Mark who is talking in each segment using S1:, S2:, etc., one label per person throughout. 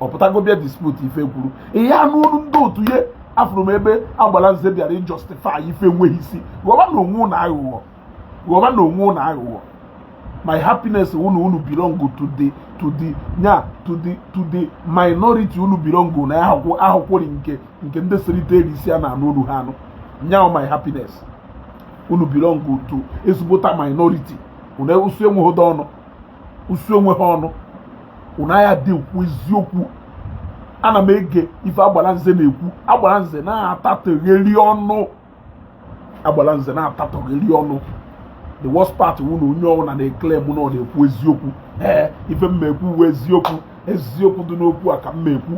S1: ọ pụtago bịa dispute ife kwuru ị ya-anụ olu ndị otu ya afụrụ m ebe agbala nze bịara justify ife enweghị isi ghọba nụ onwe unu aghụghọ ghọba nụ onwe unu aghụghọ my happiness unu unu belong to the to the nya to the to the minority unu belong na ahụkwụ ahụkwụrị nke nke ndị serite elu isi a na-anụ olu ha anụ nya my happiness unu belong to ezigbota minority unu esu enweghị ọnụ esu enweghị ọnụ unu aya dị ekwu eziokwu ana m ege ife agbara nze na-ekwu agbara nze na-atatogheri ọnụ agbara nze na-atatogheri ọnụ the worst part wụ na onye ọbụla na-eclaim na ọ na-ekwu eziokwu ee ife m ekwu wụ eziokwu eziokwu dị n'okwu a ka m ekwu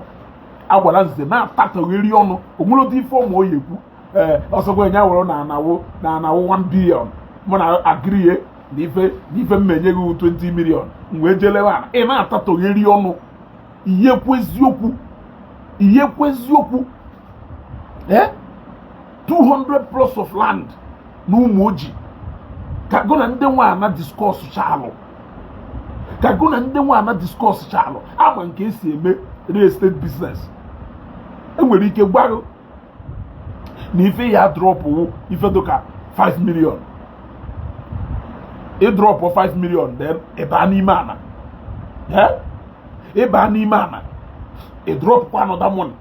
S1: agbara nze na-atatogheri ọnụ onwere otu ife ọma ọ ya-ekwu ee ọsọkwa nya wụrụ na ana wụ na ana wụ 1 billion mụ na agree na ife na ife m enye gị 20 million m wee jee lewe ana ị na-atatogheri ọnụ ị ya-ekwu eziokwu ị ya-ekwu eziokwu ee 200 plots of land na Ụmụoji ka gụ na ndị nwe ana discuss chalụ ka gụ na ndị nwe ana discuss chalụ ama m ke esi eme real estate business enwere ike gwa gị na ife ị ya-adrop wụ ife dịka 5 million ị drop 5 million then ị baa n'ime ana ị baa n'ime ana ị dropkwa another money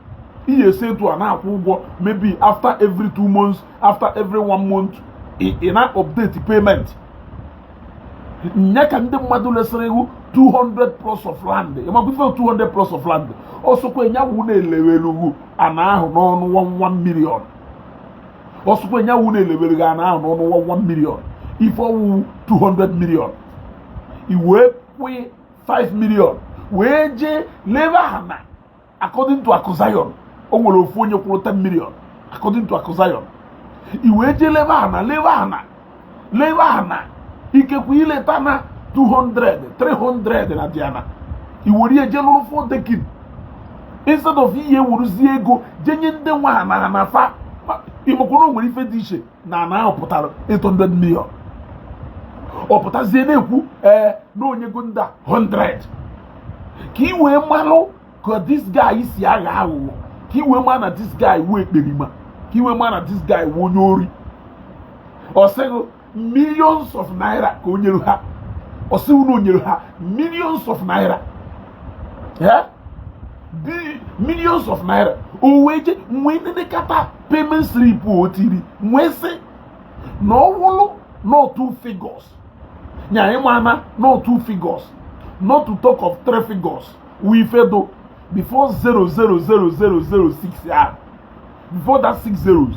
S1: ị ya-esi etu a na-akwụ ụgwọ maybe after every two months after every one month ị na-update payment nya ka ndị mmadụ lesiri gị 200 plots of land ị makwa ife 200 plots of land ọsọkwa nya wụ na elewere gị ana ahụ n'ọnụ 1 million ọsọkwa nya wụ na elewere gị ana ahụ n'ọnụ 1 million ife ọ wụ wụ 200 million i wee kwụọ 5 million wee jee lebe ana according to Akụ Zion o nwere ofu onye kwụrụ 10 million according to Akụ Zion i wee jee lebe ana lebe ana lebe ana ikekwe i leta na 200 300 na diana i were ya jee lụrụ four decking instead of ị ya-ewuruzie ego jee nye ndị nwe ana ana fa ịmakwụrụ nwere ife dị iche na ana ahụ pụtara 800 million ọ pụtazie na-ekwu ee na o nyego ndị a 100 ka ị wee malụ ka this guy si aghọ aghụghọ ka ị wee ma na this guy wụ ekperima ka ị wee ma na this guy wụ onye ori ọ sị gị millions of naira ka o nyere ha ọ sị gị na o nyere ha millions of naira ee millions of naira o wee jee wee nenekata payment slip o tiri m wee sị na ọ wụrụ not two figures nya ị ma na not two figures not to talk of three figures wụ ife dụ before zero zero zero zero zero six ya before that six zeros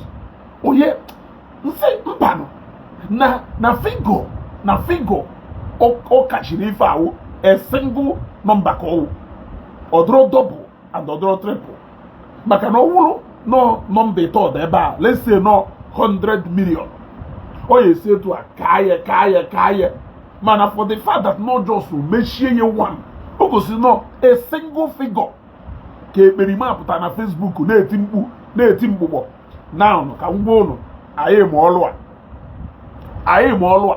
S1: ọ ya m sị mbanụ na na figure na figure ọ kachiri ife a wụ a single number ka ọ wụ ọ dụrọ double and ọ dụrọ triple maka na ọ wụrụ na nọmba ịtọ dị ebe a let's say na ọ 100 million ọ ya esi etu a kaa ya kaa ya kaa ya mana for the fact that na ọ just mechie ya one o gosi na ọ a single figure ka ekperima pụta na Facebook na-eti mkpu na-eti mgbụgbọ na ka ngwa ụnụ anyị ma ọlụ a anyị ma ọlụ a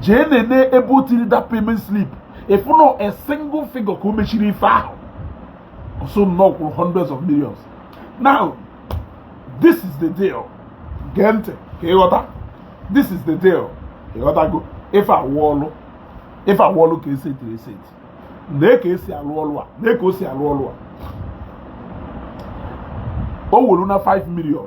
S1: jee nene ebe o tiri that payment slip ị fụ na a single figure ka o mechiri ife ahụ ọ sị na ọ kwụrụ hundreds of millions now this is the deal gee ntị ka ịghọta this is the deal ịghọtago ife a wụ ọlụ ife a wụ ọlụ ka esi etiri esi eti lee ka e si alụ ọlụ a lee ka o si alụ ọlụ a o welu na 5 million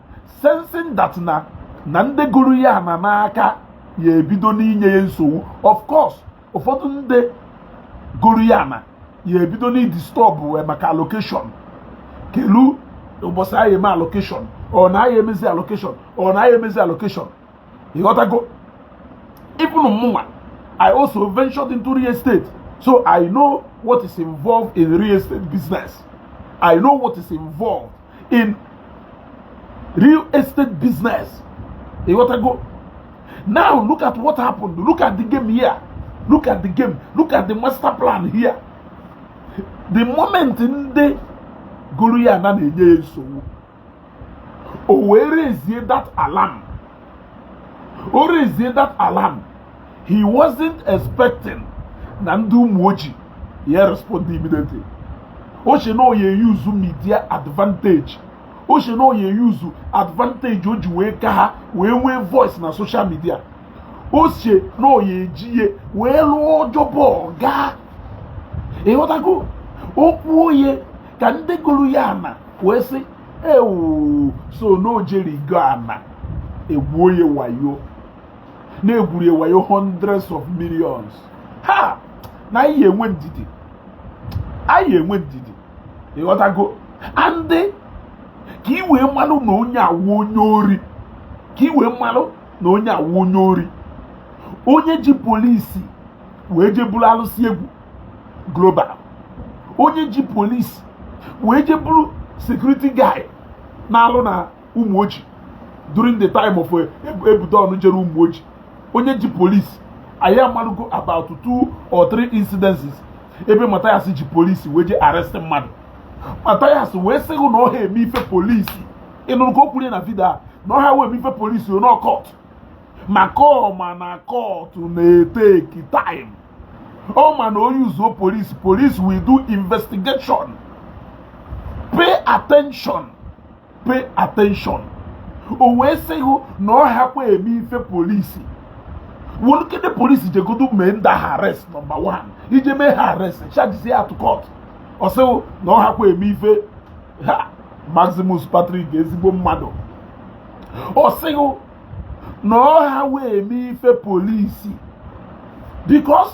S1: sensing that na na ndị goru ya ana n'aka ya ebido n'inye ya nsogbu of course ụfọdụ ndị goru ya ana ya ebido n'idisturb ya maka allocation kelu ụbọchị anyị eme allocation ọ na anyị emezi allocation ọ na anyị emezi allocation ịghọtago even mụnwa I also ventured into real estate so I know what is involved in real estate business I know what is involved in real estate business ịghọtago now look at what happened look at the game here look at the game look at the master plan here the moment ndị goru ya ana na-enye ya nsogbu o wee raise that alarm o raise that alarm he wasn't expecting na ndị Ụmụoji ya respond immediately o che na ọ ya-use media advantage o che na ọ ya-use advantage o ji wee ka ha wee nwee voice na social media o che na ọ ya-eji ya wee lụọ job ọ gaa ịghọtago o kwuo ya ka ndị goru ya ana wee sị ewu so na o jeri igo ana e gwuo ya wayo na-egwuri wayo hundreds of millions ha na anyị enwe ndidi anyị enwe ndidi ịghọtago and ka ị wee malụ na onye a wụ onye ori ka ị wee malụ na onye a wụ onye ori onye ji polisi wee je buru alụsị egwu global onye ji polisi wee je buru security guy na-alụ na Ụmụoji during the time of eh, Ebudon jere Ụmụoji onye ji polisi anyị amalugo about two or three incidences ebe Mathias ji polisi wee je arrest mmadụ Mathias wee sị gị na ọ ha eme ife polisi ịnụrụ ka o kwuru na vidio a na ọ ha wee eme ife polisi na ọ court maka ọ ma na court na-eteki time ọ ma na o yuzuo polisi police will do investigation pay attention pay attention o wee sị gị na ọ hakwa eme ife polisi wụlụkede polisi jegodo mee ndị ha arrest nọmba 1 e je mee ha arrest chajizie ha to court ọ sị gị na ọ hakwa eme ife ha Maximus Patrick ezigbo mmadụ ọ sị gị na ọ ha wee eme ife polisi because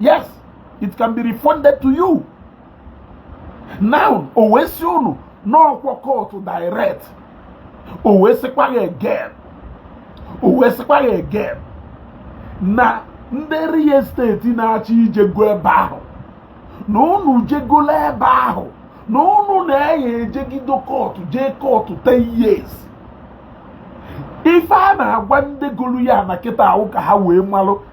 S1: yes it can be refunded to you now o wee sị unu na ọkwa court direct o wee sịkwa ya again o wee sịkwa ya again na ndị real estate na-achọ ije go ebe ahụ na unu je gola ebe ahụ na unu na-aya ejegido court jee court 10 years ife a na-agwa ndị golu ya na kịta a wụ ka ha wee malụ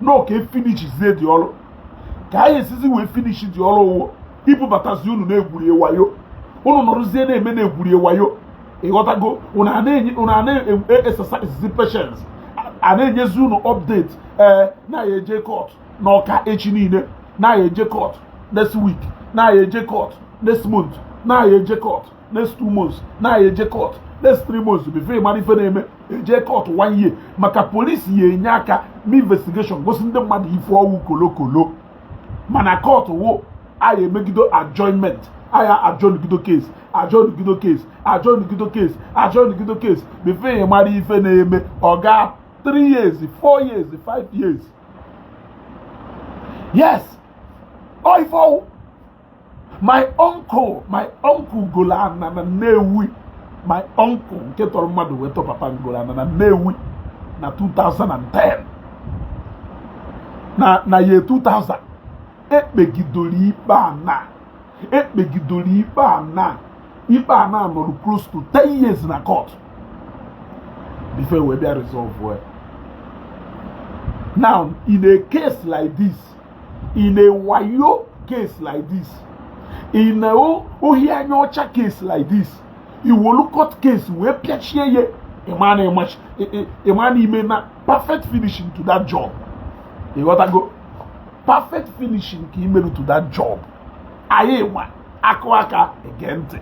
S1: na ọ ka efinichizie the ọrụ ka anyị esizi wee finish the ọrụ ọ wụ ibubatazi unu na-egwurie wayo unu nọrụzie na-eme na-egwurie wayo ịghọtago unu a na-exercise e, patience a na-enyezi unu update ee eh, na-ya eje court na ọka echi niile na-ya eje court next week na-ya eje court next month na-ya eje court next two months na-aya eje court next three months before ị mara ife na-eme eje court one year maka polisi ya-enye aka mee investigation gosi ndị mmadụ ife ọ wụ kolokolo mana court wụ a ya-emegido adjournment a ya-adjournigido case adjournigido case adjournigido case adjournigido case before ị mara ife na-eme ọ gaa three years four years five years yes ọ ife ọ wụ my uncle my uncle golo ana na Nnewi my uncle nke tọrọ mmadụ wee tọ papa m golo ana na Nnewi na 2010 na year 2000 ekpegidoro ikpe a na ikpe a na nọrọ close to 10 years na court before e wee bịa resolve well now in a case like this in a wayo case like this in a ohi anya ọcha case like this i welu court case wee pịachie ya ịma na ime na perfect finishing to that job ịghọtago perfect finishing ka imeru to that job anyị wa akụ aka ege ntị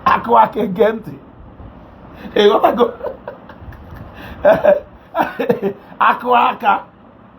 S1: akụ aka ege ntị ịghọtago akụ aka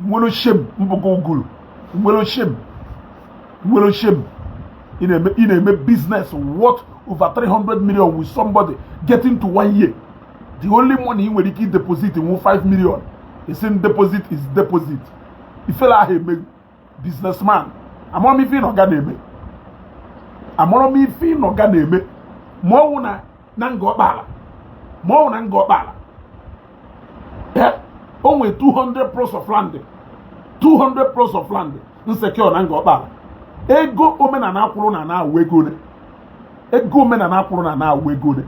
S1: nwerọ shame mbụkọ uguru nwerọ shame nwerọ shame ị na-eme business worth over 300 million with somebody getting to one year the only money ị nwere ike deposit wụ 5 million ị sị m deposit is deposit ifele aha eme ghị businessman amarọ m ife ị nọ Ghana eme amarọ m ife ị nọ Ghana eme ma ọwụ na Ngor Okpala ma ọwụ na Ngor Okpala o nwee 200 plots of land 200 plots of land m secure na Ngor Okpala ego omenana akwụrụ na ana wụ ego one ego omenana akwụrụ na ana wụ ego one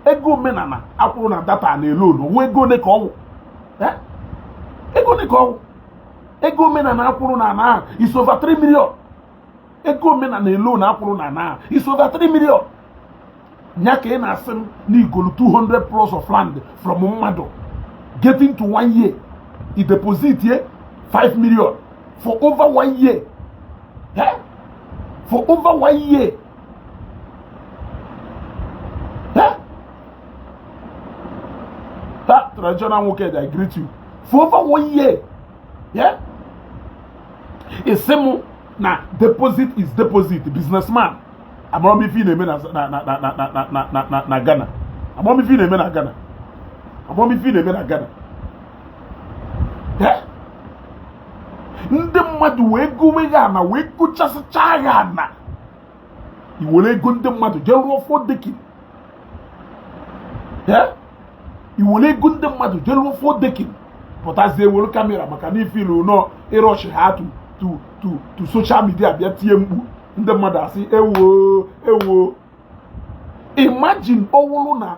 S1: ego omenana akwụrụ na that ana alone wụ ego one ka ọwụ ego one ka ọwụ ego omenana akwụrụ na ana ahụ is over 3 million ego omenana alone akwụrụ na ana ahụ is over 3 million nya ka ị na-asị m na igolu 200 plots of land from mmadụ getting to one year i deposit ye 5 million for over one year eh? for over one year that traditional nwoke I greet you for over one year yeah ị sị m na deposit is deposit businessman amarọ m ife ị na-eme na Ghana amarọ m ife ị na-eme na Ghana ndị mmadụ wee gowe ghị ana wee gochasịcha ghị ana i were ego ndị mmadụ jee rụọ four decking i were ego ndị mmadụ jee rụọ four decking pụtazie were camera maka na ị feel na ị rush ha to social media bịa tie mkpu ndị mmadụ asị ewo ewo imagine ọwụrụ na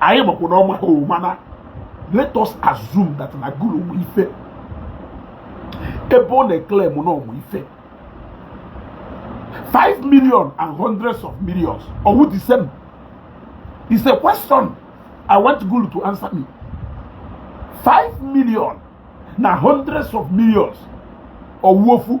S1: anyị makwa na ọ maha mana let us assume that na gulu mụ ife ebe ọ na-eclaim na ọ mụ ife 5 million and hundreds of millions ọ wụ the same is a question i want gulu to answer me 5 million na hundreds of millions ọ wụ ofu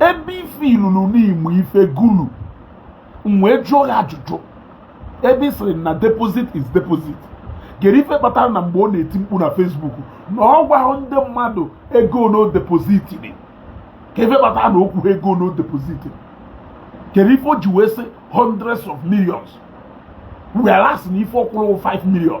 S1: ebe ife i lulu n'ịmụ ife gulu m wee jụọ ya ajụjụ ebe ị sịrị na deposit is deposit kedu ife kpatara na mgbe ọ na-eti mkpu na Facebook na ọ gwaha ndị mmadụ ego one o depositịrị kedu ife kpatara na o kwuha ego one o depositịrị kedu ife o ji wee sị hundreds of millions whereas na ife ọ kwụrụ wụ 5 million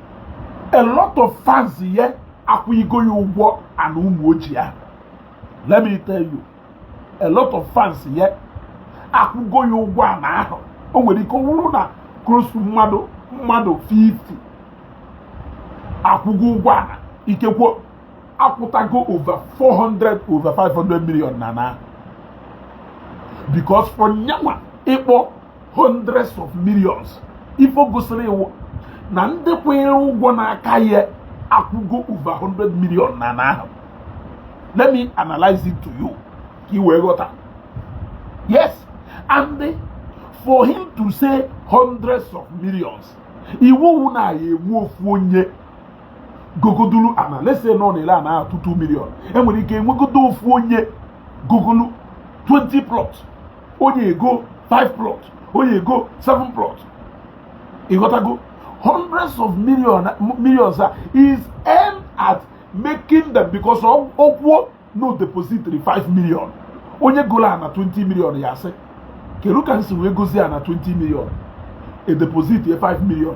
S1: a lot of fans ya akwụgo ya ụgwọ ana Ụmụoji ahụ let me tell you a lot of fans ya akwụgo ya ụgwọ ana ahụ o nwere ike ọ wụrụ na close to mmadụ mmadụ 50 akwụgo ụgwọ ana ikekwe akwụtago over 400 over 500 million n'ana ahụ because for nyanwa ịkpọ hundreds of millions ife gosiri ị wụ na ndị kwụnyere ụgwọ n'aka ya akwụgo over 100 million n'ana ahụ let me analyze it to you ka ị wee ghọta yes and for him to say hundreds of millions ife ọ wụ wụ na a ya-enwe ofu onye gogodulu ana let's say na ọ na-ele ana ahụ 2 2 million e nwere ike enwegodo ofu onye gogolu 20 plots onye egoo 5 plot onye egoo 7 plot ị ghọtago hundreds of millions a is aimed at making them because o kwuo na o depositịrị 5 million onye goro ana 20 million ya-asị kedu ka m si wee gozie ana 20 million e depositie 5 million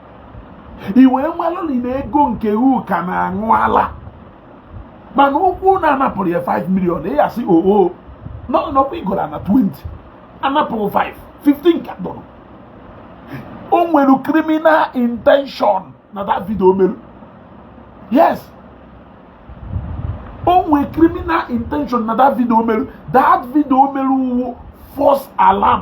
S1: i wee malụ na ego nke u ka na-aṅụ ala mana o kwuo na a napụrụ ya 5 million ị ya-asị oo n'ọkwa i goro na 20 a napụrụ 5 15 ka dọrọ o nwere criminal intention na that video o mere yes o nwere criminal intention na that video o mere that video o mere wụ false alarm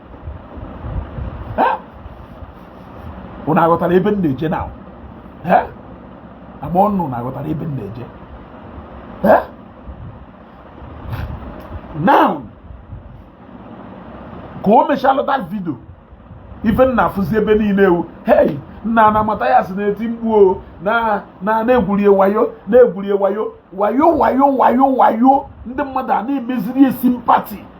S1: unu aghọtara ebe m na-eje now ama m unu na-aghọtara ebe m na-eje now ka o mechalụ that video ife m na-afụzi ebe niile wụ hei nna na Mathias na-eti mkpu o na e gwuru ya wayo na e gwuru ya wayo ndị mmadụ a na-emeziri ya sympathy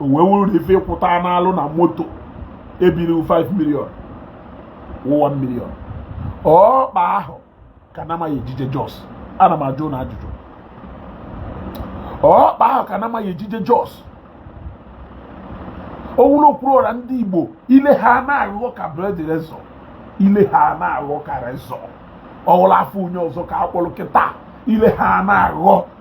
S1: o wee wuru na ife ịkwụta n'alụ na moto ebiri 5 million 1 million ọkpa ahụ ka na-ama ya ejije jos ana m ajụ ụna ajụjụ ọkpa ahụ ka na-ama ya ejije jos ọ wụlọ okwuru ọra ndị igbo ile ha na-aghọ ka blade razor ile ha na-aghọ ka razor ọ wụlọ afa onye ọzọ ka a kpọrọ kịta ile ha na-aghọ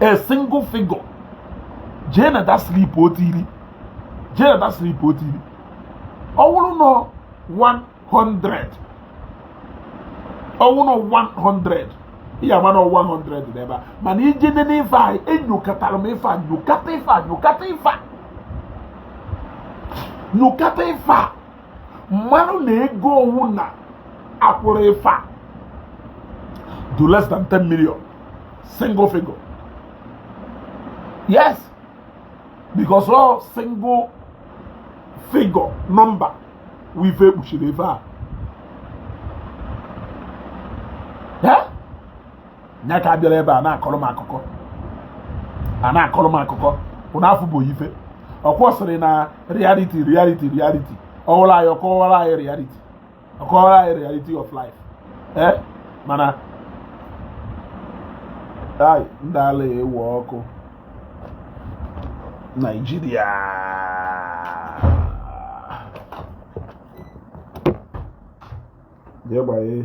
S1: a single figure jee na that slip o tiri jee na that slip o tiri ọ wụrụ nọ 100 ọ wụrụ nọ 100 ị ya-ama na 100 n'ebe a mana i jee nene ife a enyokatara m ife a nyokata ife a nyokata ife a nyokata ife a marụ na ego ụna kwụrụ ife a dụ less than 10 million single figure yes because ọ single figure number wụ ife e kpuchiri ebe a nya ka a bịara ebe a na-akọrọ m akụkọ a na-akọrọ m akụkọ ụna afụgo ife o kwu ọ sịrị na reality reality reality ọ wụrụ anyị ọ kọwara anyị reality ọ kọwara anyị reality of life ee eh? mana ai ndị ala ewe ọkụ Naijiria jee gbanye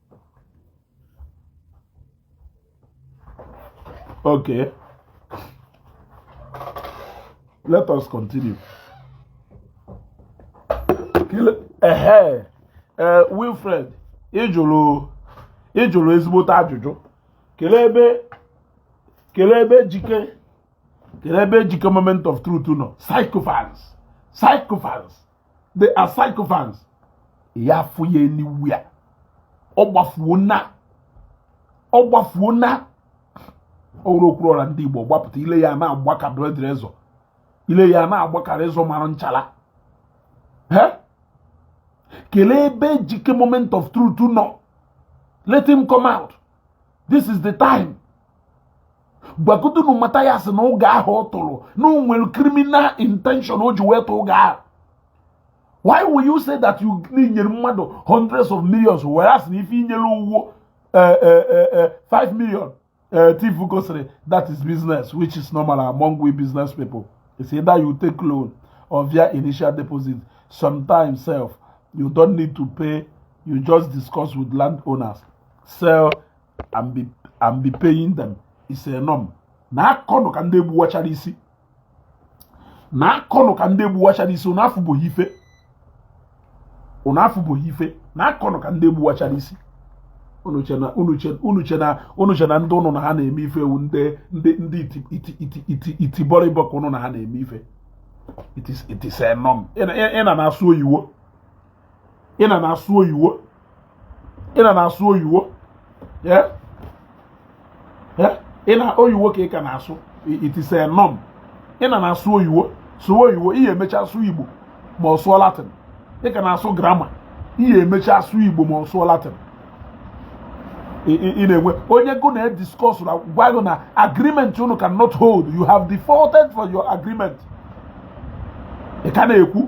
S1: Okay. Let us continue. Ehe, eh, Wilfred, ị jụrụ ị jụrụ ezigbote ajụjụ. Kelee ebe kelee ebe Ejike kelee ebe Ejike moment of truth nọ. Sycophants, sycophants. they are sycophants ya afụ ya anywhere ọ gbafuo na ọ gbafuo na ọrụ okwuru ọra ndị Igbo gbapụta ile ya na-agba ka blade razor ile ya na-agba ka razor mara nchala kelee ebe ejike moment of truth nọ let him come out this is the time gwagodonu Mathias na ụgha ahụ ọ tụrụ na o nwere criminal intention o ji wee tụ ụgha ahụ why will you say that you nyere mmadụ hundreds of millions wee sị na ife i nyere wụ 5 eh, eh, eh, million tiv gosiri that is business which is normal among we business people it's either you take loan or via initial deposit sometimes sef you don't need to pay you just discuss with landowners sell and be and be paying them it's a norm na akọnụ ka ndị egbuwachara isi na akọnụ ka ndị egbuwachara isi unu afụbeghị ife unu afụbeghị ife na akọnụ ka ndị egbuwachara isi unu che na unu che unu che na unu che na ndị unu na ha na-eme ife wụ ndị ndị ndị iti iti iti iti iti bọrịbọ ka unu na ha na-eme ife it is it is a norm ị na ị na na-asụ oyiwo ị na na-asụ oyiwo ị na na-asụ oyiwo ị na oyiwo ka ị ka na-asụ it is a norm ị na na-asụ oyiwo sụwa oyiwo ị ya-emecha sụọ igbo ma sụọ latin ị ka na-asụ grammar ị ya-emecha sụọ igbo ma sụọ latin ị na-enwe onye gụ na discuss na-agwa gụ na agreement unu cannot hold you have defaulted for your agreement ị ka na-ekwu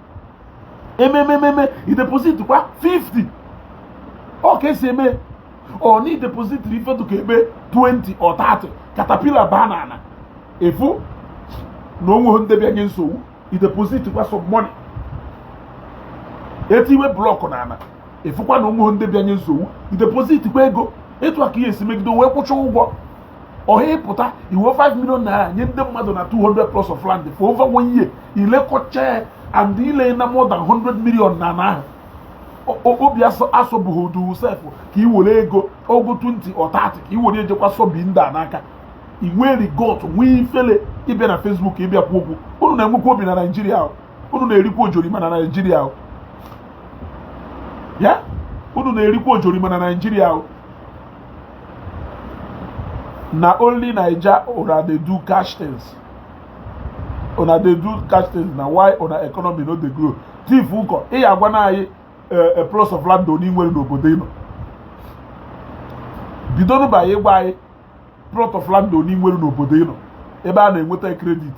S1: ememememe i deposit kwa 50 ọ ka e si eme ọ na i depositiri ife dụ ka ebe 20 or 30 caterpillar baa n'ana ị fụ na o nweghị ndị bịa nye nsogbu i deposit kwa some money e tiwe block n'ana ị fụkwa na o nweghị ndị bịa nye nsogbu i deposit kwa ego etu a ka ị ya-esi megide wee kwụcha ụgwọ ọha ị pụta i we 5 million naira nye ndị mmadụ na 200 plots of land for over one year i lekọcha ya and i lena more than 100 million n'ana ahụ obi asọbụghị odu sef ka ị were ego ogo 20 or 30 ka ị were ejekwa sobi ndị a n'aka i nwere gut nwee ifele ịbịa na Facebook ịbịa kwu okwu unu na-enwekwa obi na Naịjirịa unu na-erikwa ojorima na Naịjirịa unu na-erikwa ojorima na Naịjirịa na only naija una dey do cash things una dey do cash things na why una economy no dey grow thief nkọ ị ya-agwana anyị eh, eh, plots of land one i nwere n'obodo ị nọ bidonụ by ịgwa anyị plot of land one i nwere n'obodo ị nọ ebe a na-enweta credit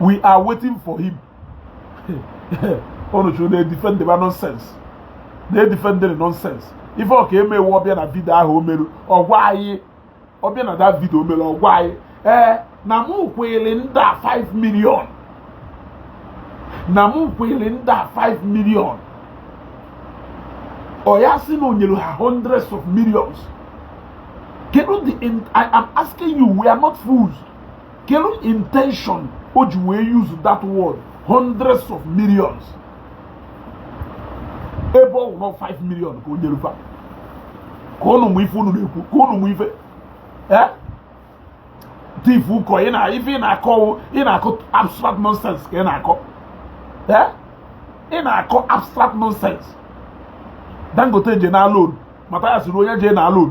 S1: we are waiting for him unu chụrụ na-edifend ba nonsense na-edifendịrị nonsense ife ọ ka-eme wụ ọ bịa na video ahụ o meru ọ gwa anyị ọ bịa na that video o mere ọ gwa anyị ee na mụ kwụrụ ndị a 5 million na mụ kwụrụ ndị a 5 million ọ ya-asị na o nyere ha hundreds of millions kedu the i am asking you we are not fools kedu intention o ji wee use that word hundreds of millions ebe ọ wụrụ 5 million ka o nyere fa ka unu mụ ife unu na-ekwu ka unu mụ ife eh? tifu ụkọ ị na ife ị na-akọ ị na-akọ abstract nonsense ka ị na-akọ eh? ị na-akọ abstract nonsense Dangote je na loan Mathias sịrị onye je na loan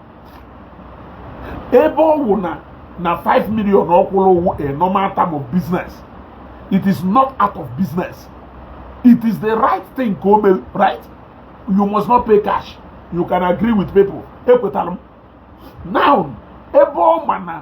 S1: ebe ọ wụ na na 5 million ọ kwụrụ wụ a normal term of business it is not out of business it is the right thing ka o mee right you must not pay cash you can agree with people ekwetara m now ebe ọ ma na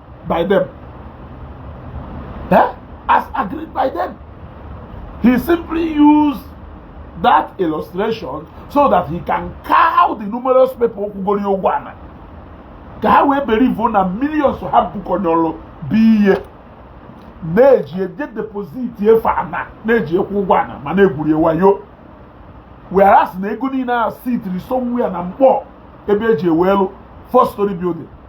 S1: by them. Eh? As agreed by them. He simply used that illustration so that he can cow the numerous people kwụgoro ụgwọ ana. ka ha wee believe na millions ha bukọnyọrọ bụ ihe na-eji eje deposit ife ana na-eji akwụ ụgwọ ana ma na-egwuri wayo whereas na ego niile a sitiri somewhere na Nkpor ebe eji ewelu four story building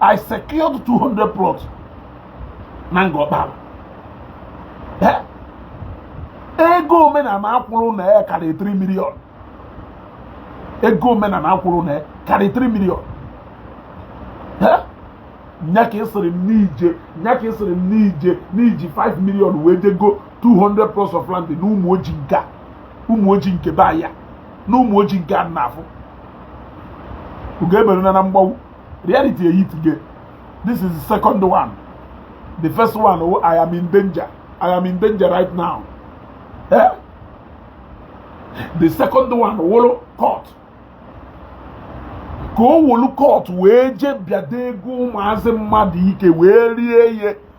S1: I secured 200 plots na Ngor Okpala eh? ego omenala akwụrụ na ya karịrị 3 million ego omenala akwụrụ na ya karịrị 3 million eh? nya ka ị sịrị m n'i nya ka ị sịrị m n'i ji 5 million wee je goo 200 plots of land na Umuoji nke Umuoji nke be ya na Umuoji nke a na-afụ ugo eberuna na mgbagbu reality ehit gị this is the second one the first one oh, i am in danger i am in danger right now eh? the second one wụrụ court ka o wolu court wee je bịado ego ụmụazị mmadụ ike wee rie ihe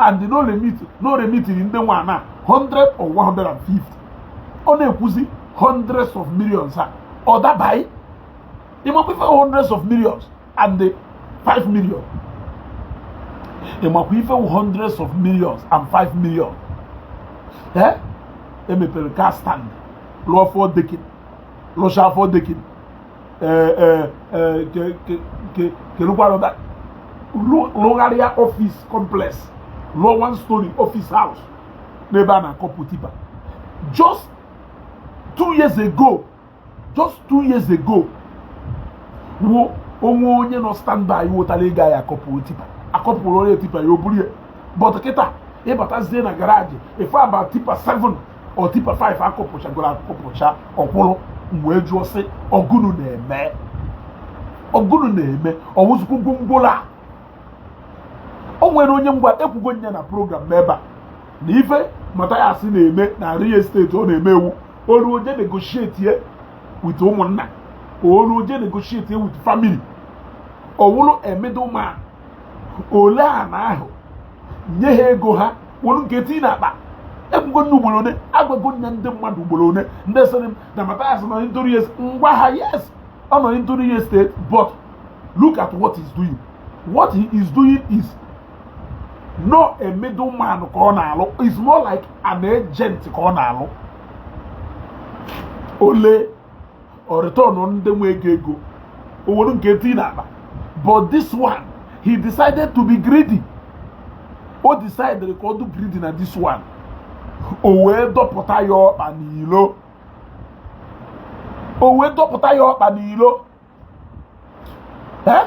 S1: and na ọ remit na ọ remitiri ndị nwe ana 100 or 150 ọ na-ekwuzi hundreds of millions a ọ dabaghị ịmakwa ife hundreds of millions and the 5 million ịmakwa ife hundreds of millions and 5 million ee e mepere car stand lụọ four decking lụcha four decking kerukwarụta rụgharịa office complex rụọ one story office house n'ebe a na-akọpụ tipper just two years ago just two years ago ọ wụ onye nọ standby wotara ịga ya akọpụ tipper akọpụrụ onye tipper ya o buru ya but kịta ị batazie na garage ị fụ about tipper 7 or tipper 5 akụpụchagoro akụpụcha ọ kwụrụ m wee jụọ sị ọ gụnụ na-eme ọ gụnụ na-eme ọwụzụkwu gwongworo a o nwere onye ngwa ekwugo m ya na program m ebe a na ife Mathias na-eme na real estate ọ na-eme wụ o lue o jee negotiate ye with ụmụnna o lue o jee negotiate ye with family ọ wụrụ a middleman o lee ana ahụ nye ha ego ha were nke tii na akpa ekwugo m ya ugboro one agwago m ya ndị mmadụ ugboro one ndị sịrị m na Mathias nọ into real estate m gwa ha yes ọ nọ into real estate but look at what he's doing what he is doing is not a middleman ka ọ na-alụ is more like an agent ka ọ na-alụ o lee o return ndị nwe ego ego o were nke tii na akpa but this one he decided to be greedy o decided ka ọ dụ greedy na this one o wee dọpụta ya ọkpa n'ilo o wee dọpụta ya ọkpa n'ilo eh?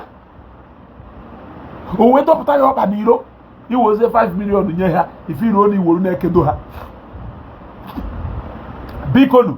S1: o wee dọpụta ya ọkpa n'ilo i wezie 5 million nye ha ife fọrọnụ i weru na-ekedo ha bikonu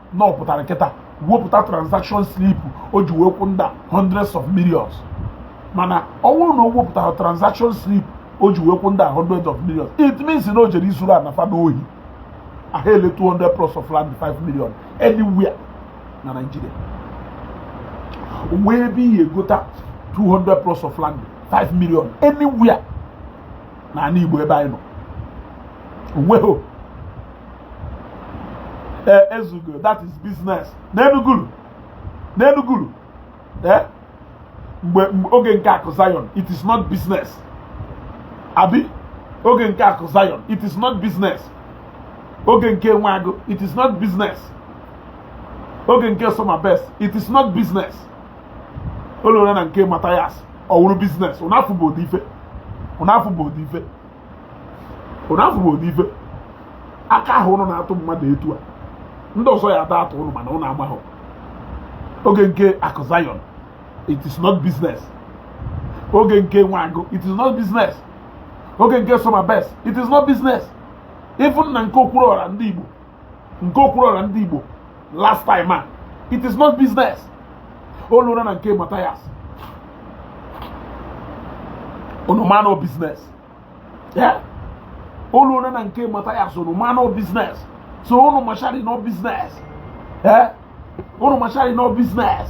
S1: na ọ pụtara kịta a wepụta transaction slip o ji wee kwụọ ndị a hundreds of millions mana ọ bụrụ na o wepụtara transaction slip o ji wee kwụọ ndị a hundreds of millions it means na o jere izuru ana fa n'ohi aha ele 200 plots of land 5 million anywhere na Nigeria wee ebe ị ya-egota 200 plots of land 5 million anywhere na ana Igbo ebe anyị nọ o nwehọ ee ezugo that is business n'enugulu n'enugulu ee mgbe oge nke akụ zion it is not business abi oge nke akụ zion it is not business oge nke Nwagụ it is not business oge nke soma best it is not business o lura na nke Mathias ọ wụrụ business ụnụ afụgo ụdị ife ụnụ afụgo ụdị ife ụnụ afụgo ụdị ife aka ahụ ụnụ na-atụ mmadụ etu a ndị ọzọ ya ada atụ ụnụ mana ụnụ amahọ oge nke akụ Zion it is not business oge nke Nwagụ it is not business oge nke soma best it is not business even na nke Okwuluọra ndị Igbo nke Okwuluọra ndị Igbo last time a it is not business o lura na nke Mathias unu ma na ọ business o lura na nke Mathias unu ma na ọ business so unu machari na ọ business unu machari na ọ business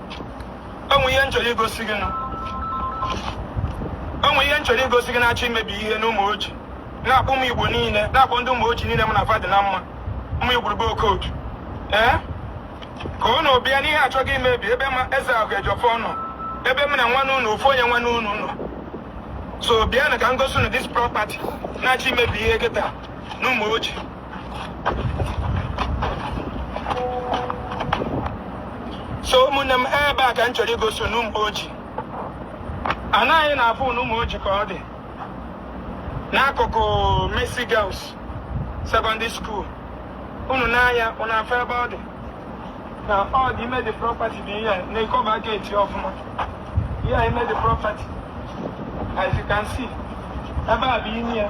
S2: o nwe ihe m chọrọ igosi gị o nwe ihe m chọrọ igosi gị na-achọ imebi ihe n'Ụmụoji na-akpọ ụmụ Igbo niile na-akpọ ndị Ụmụoji niile m na fa dị na mma ụmụ igwurube Okodu ee ka unu bịa n'ihe achọghị imebi ebe ma Ezeakụ Ejiọfọ nọ ebe m na nwanne unu ofu onye nwanne unu nọ so bịanụ ka m gosi unu this property na-achọ imebi ihe kịta n'Ụmụoji so ụmụnne m ebe a ka m chọrọ igosi unu n'Ụmụoji ana ị na-afụ n'Ụmụoji ka ọ dị n'akụkụ Mercy Girls Secondary School unu nee anya unu afụ ebe ọ dị na ọ dị ime the property dị ihe na-ekoba gate ọfụma ihe ime the property as you can see ebe a bụ ime ya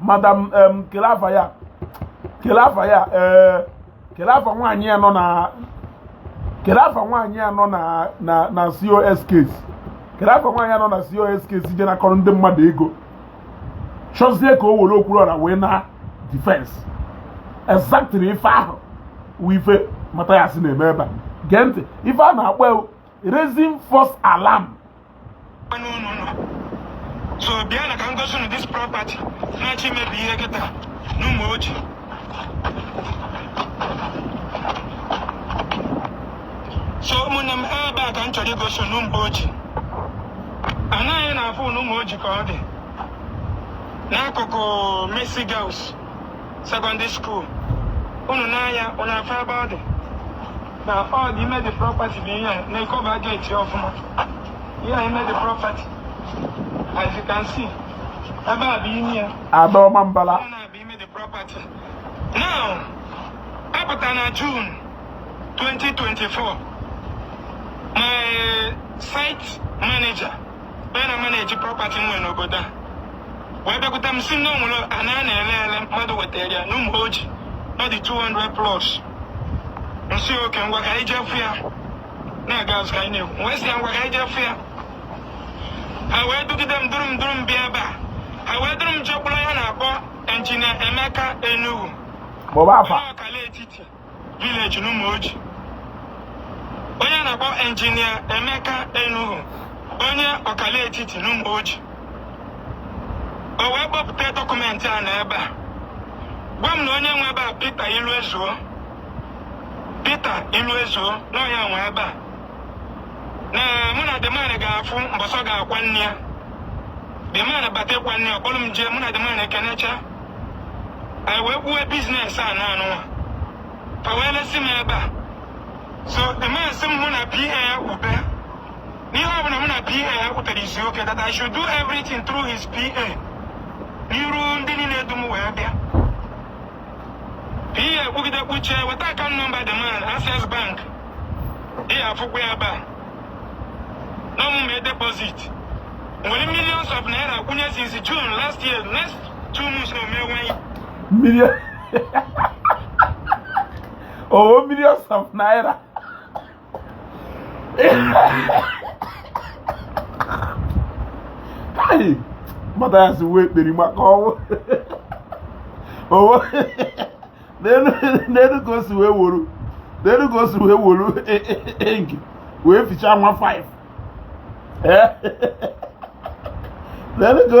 S1: madam em kele afa ya kele afa ya ee kele afa nwaanyị a nọ na kele afa nwaanyị a nọ na na na cos case kele afa nwaanyị a nọ na cos case je na-akọrọ ndị mmadụ ego chọzie ka o were Okwuluọra wee na defense exactly ife ahụ wụ ife Mathias na-eme ebe a gee ntị ife a na-akpọ ya wụ raising false alarm
S2: so bịanụ ka m gosi unu this property na-achọ imebi ihe kịta n'Ụmụoji so ụmụnne m ebe a ka m chọrọ igosi unu n'Ụmụoji ana ị na-afụ n'Ụmụoji ka ọ dị n'akụkụ Mercy Girls secondary school unu nee anya unu afụ ebe ọ dị na ọ dị ime the property bụ ihe na-ekoba gate ọfụma ihe ime the property as you can see ebe a bụ ime ya adaọma
S1: mbala na-abụ ime the
S2: property now apụta na June 2024 my site manager onye na-manage property m nwere n'obodo a wee bịakwute m sị na o nwere ana a na-ele ele mmadụ wetara ya n'Ụmụoji ọ dị 200 plots m sị okay ngwa ka anyị je fụ ya na a ga-azụ ka anyị na-ekwu M wee sị ya ngwa ka anyị je fụ ya ha wee dugide m duru m duru m bịa ebe a ha wee duru m jekwuru onye a na-akpọ injinia Emeka Enugu Kpọba afa.
S1: onye Akala Etiti
S2: village n'Ụmụoji onye a na-akpọ injinia Emeka Enuhu onye Akala Etiti n'Ụmụoji o wee kpọpụta dọkụmentị a na ebe a gwa m na onye nwe ebe a Peter Iluezuo Peter Iluezuo na ọ ya nwe ebe a na mụ na the man ga-afụ mbọsị ọ ga-akwa nne ya the man bata ịkwa nne ya ọ kpọrọ m jee mụ na the man ekenecha anyị wee kwuwe business ana a nụwa ka e wee lesi m ebe a so the man sị m mụ na PA ya kwube na ihe ọbụla mụ na PA ya kwutere ị sị okay that I should do everything through his PA n'iru ndị niile du m wee bịa ihe ekwugide kwuchie weta account number the man access bank ị ga-afụkwa ya ebe a na mụ mee deposit m were millions of naira kwụnye since June last year next two months na
S1: omewe million oh millions of naira Hey, Mathias wee kperi maka ọnwụ owo n'elu ka o si wee woro n'elu ka o si wee woro enki wee fichaa nwa 5 n'elu ka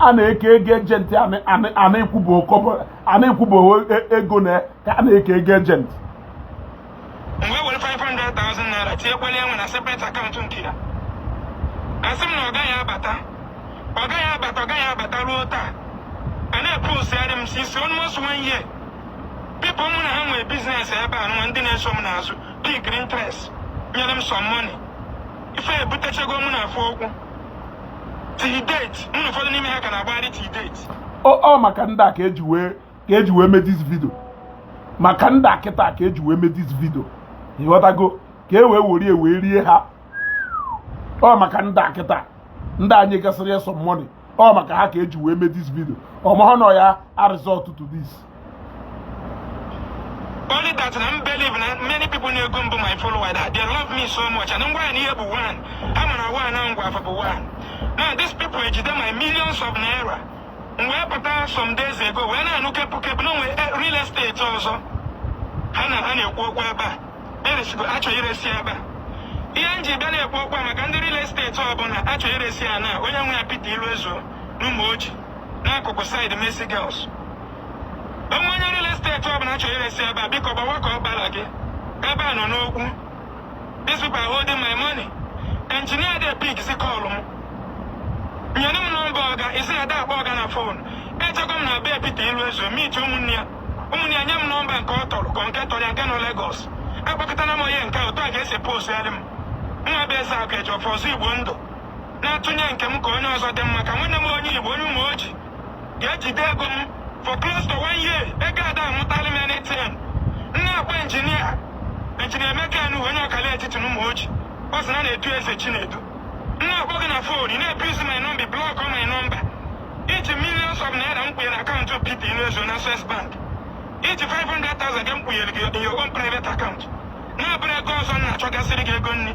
S1: a na-eke ego agent a na-ekwubeghị ego ana ka a na-eke ego agent
S2: m wee were 500,000 naira tinyekwala ya nwa na separate account nke ya a sị m na ọga ga-abata ọga ga-abata ọga ga-abata ruo taa a na-eposigharị m since almost one year people mụ na ha nwere business ebe a nwa ndị na-eso m n'azụ pick interest nyere m some money ife ebutechago mụ na fa okwu ọ maka
S1: ndị a ka eji wee ka eji wee mee this video maka ndị a kịta ka eji wee mee this video ị ghọtago ka e wee were wee rie ha ọ maka ndị a kịta ndị a nyegasịrị ya some money ọ maka ha ka eji wee mee this video ọ mahọ na ọ ya a-result to this
S2: only that na m believe na many people na-ege m bụ my follower that they love me so much and ngwa na ihe bụ one a mara one na ngwa afọ bụ one now these people ejide my millions of naira m wee pụta some days ago wee na-anụ kepụ kepụ na o nwe eh, real estate ọzọ ha na ha na-ekwu okwu ebe a eresigo a chọrọ iresi ebe a ihe m ji bịa na-ekwu okwu a maka ndị real estate ọbụla a chọrọ iresi ya na onye nwe ya Peter Iluezuo n'Ụmụoji n'akụkụ side Mercy Girls o nwee onye real estate ọbụla a chọrọ iresi ebe a biko gbawa ka ọ gbara gị ebe a nọ n'okwu these people are holding my money engineer ada e-pickzi call m nyere m nọmba ọga ị sị na ada akpọ ọga na phone ejego m na be Peter Iluezuo meet ụmụnne ya ụmụnne ya nye m nọmba nke ọ tọrọ ka nke tọrọ ya nke nọ Lagos akpọkatara m onye nke otu a ka e si posigharị m mụwa bụ eze akụ eji ọfọ ọzọ igbo ndụ na-atụnye nke m ka onye ọzọ dị mma ka nwanne m onye Igbo onye Ụmụoji ga-ejide ego m for close to one year ego ada amụtala m anything m na-akpọ injinia injinia Emeka Enuhu onye ọkala etiti na Ụmụoji ọ sị na na-etu eze Chinedu m na-akpọ gị na fon ị na-ebizi my number block my number i ji millions of naira m kwụnyere akaụntụ Peter Iluezuo na Access Bank i ji 500,000 gị m kwụnyere gị in your own private account na-abụrọ ego ọzọ m na-achọgasịrị gị ego nri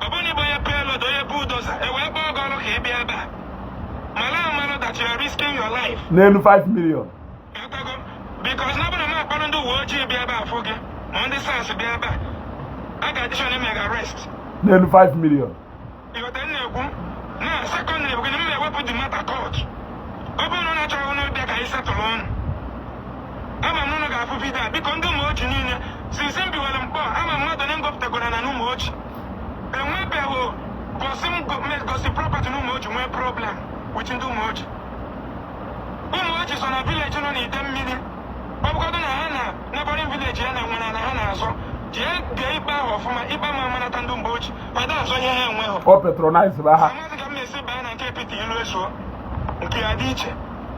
S1: ọ bụrụ na ị bụ onye payloader onye bulldozer e wee kpọọ gị ọrụ
S2: ka ị bịa ebe a malụ amalụ that you are risking your life n'elu 5 million
S1: Ịghọtago?
S2: because na ọ bụrụ na m akpọrọ ndị uwe ojii bịa ebe a fụ gị ma ndị SARS bịa ebe a a ga-adị sure na e mee gị arrest n'elu 5
S1: million ịghọta
S2: m na-ekwu na secondly bụ gị na m na-ewepụ the matter court ọ bụrụ na unu chọọ unu bịa ka anyị setụlụ ọnụ ama m unu ga-afụ vidio a biko ndị Ụmụoji niile since m biwere Nkpọ ama m mmadụ onye m gọpụtagoro ana n'Ụmụoji enwebeghị gosi m go- me- gọsị property n'Ụmụoji nwee problem with ndị Ụmụoji Ụmụoji so na village nọ n'Idemili ọ bụgodị na ha na neighboring village ha nwere ala ha na-azọ jee lee ikpe ahụ ọfụma ikpe ama amanata ndị Ụmụoji ha da azọ ihe ha enweghị ọ patronize ba ha
S1: amaghịzi ka m na-esi baa na
S2: nke Peter Iluezuo nke ya dị iche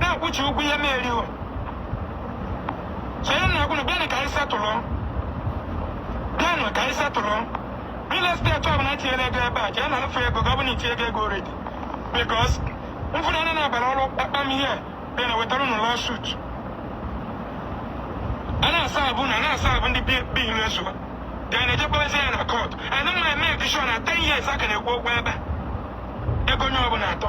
S2: na-akwụchi ụgwọ ihe na-eri o chere na agwụnụ bịanụ ka anyị setụlụ bịanụ ka anyị setụlụ real estate ọbụla etinyere ego ebe a jee na alụfụ ego gị ọ bụrụ na i tinyego ego already because mfụrụ anya na-abara ọrụ kpamkpam ihe dị na wetara unu lawsuit a na-aserve na na-aserve ndị be Iluezuo a ga na-ejekpọrezi ya na court anyị ma-eme ọ dị sure na 10 years a ka na-ekwu okwu ebe a. ego onye ọbụla atọ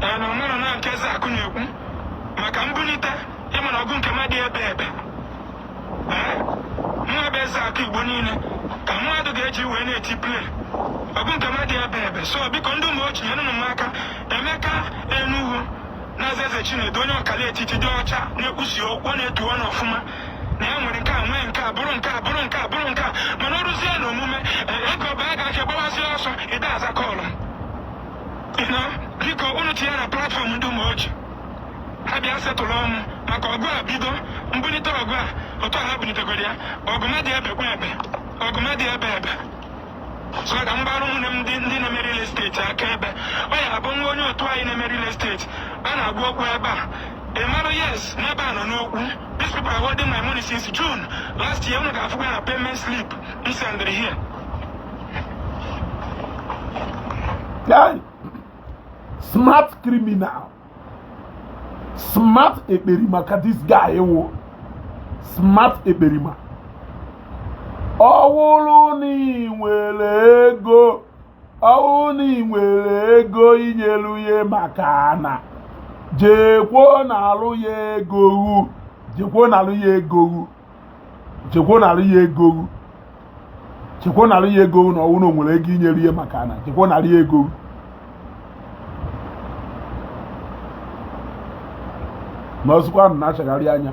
S2: na mụ na na nke eze akụ na-ekwu maka m bulite ị ma na ọgụ nke a ma-adị ebebe nwa be eze akụ Igbo niile ka mmadụ ga-eji wee na-eti play ọgụ nke a ma-adị ebebe so biko ndị Ụmụoji nyenụ m aka Emeka Enuhu na-aza eze Chinedu onye ọkala etiti dị ọcha na-ekwusi okwu ọ na-etu ọnụ ọfụma na ya nwere nke a nwee nke a bụrụ nke a bụrụ nke a bụrụ nke a mana o ruzie na omume ego ọba a ga-achọ gbawazi ọsọ ị da aza call biko unu tinye na platform ndị Ụmụoji ha bịa setụlụọ mụ maka ọgụ a bido m bulite ọgụ a otu ha bulitegoro ya ọgụ ma-adị ebe kwa ebe ọgụ ma-adị ebebe so ka m gbara ụmụnne m ndị ndị na-eme real estate aka ebe ọ ya-abụ nwa onye otu anyị na-eme real estate a na-agwa okwu ebe a ị mara yes n'ebe a nọ n'okwu these people are holding my money since June last year unu ga-afụkwa na payment slip m sendịrị here
S1: smart criminal smart ekperima ka this guy wụ smart ekperima ọ wụrụ na i nwere ego ọ wụrụ na i nwere ego i nyelu ya maka na jekwuo nalụ ya ego hụ jekwuo nalụ ya ego hụ jekwuo nara ya ego hụ jekwuo nara ya ego hụ na ọ wụ na o nwere ego i nyere ya maka na jekwuo nara ya ego hụ na o sokwa na-achagharị anya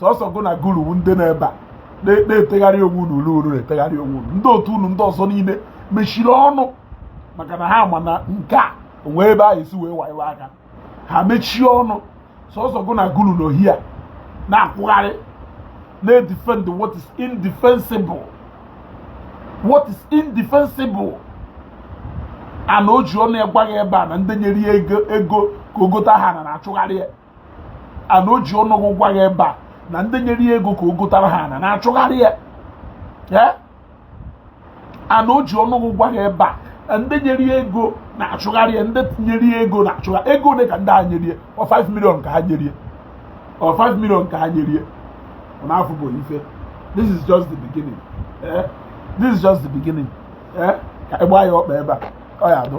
S1: sọsọ gụ na guru wu ndị nọ ebe a na-etegharị onwe unu ule uru na-etegharị onwe unu ndị otu unu ndị ọzọ niile mechiri ọnụ maka na ha ma na nke a o nwee ebe a ha-esi wee waiwe aka ha mechie ọnụ sọsọ gụ na guru nọ here na-akwụgharị na-edefend what is indefensible what is indefensible and o ji ọnụ ya gwa gị ebe a na ndị nyere ya ego ka o gota ha ana na-achụgharị ya and o ji ọnụ gwa gị ebe a na ndị nyere ya ego ka o gotara ha ana na-achụgharị ya and o ji ọnụ gwa gị ebe a ndị nyere ya ego na-achụgharị ya ndị nyere ya ego na-achụgharị ego ole ka ndị a nyere ya ọ 5 million ka ha nyere ya ọ 5 million ka ha nyere ya ọ na-afụ bụ ife this is just the beginning eh? this is just the beginning eh? ka ịgba ya ọkpa ebe a ọ ya adụ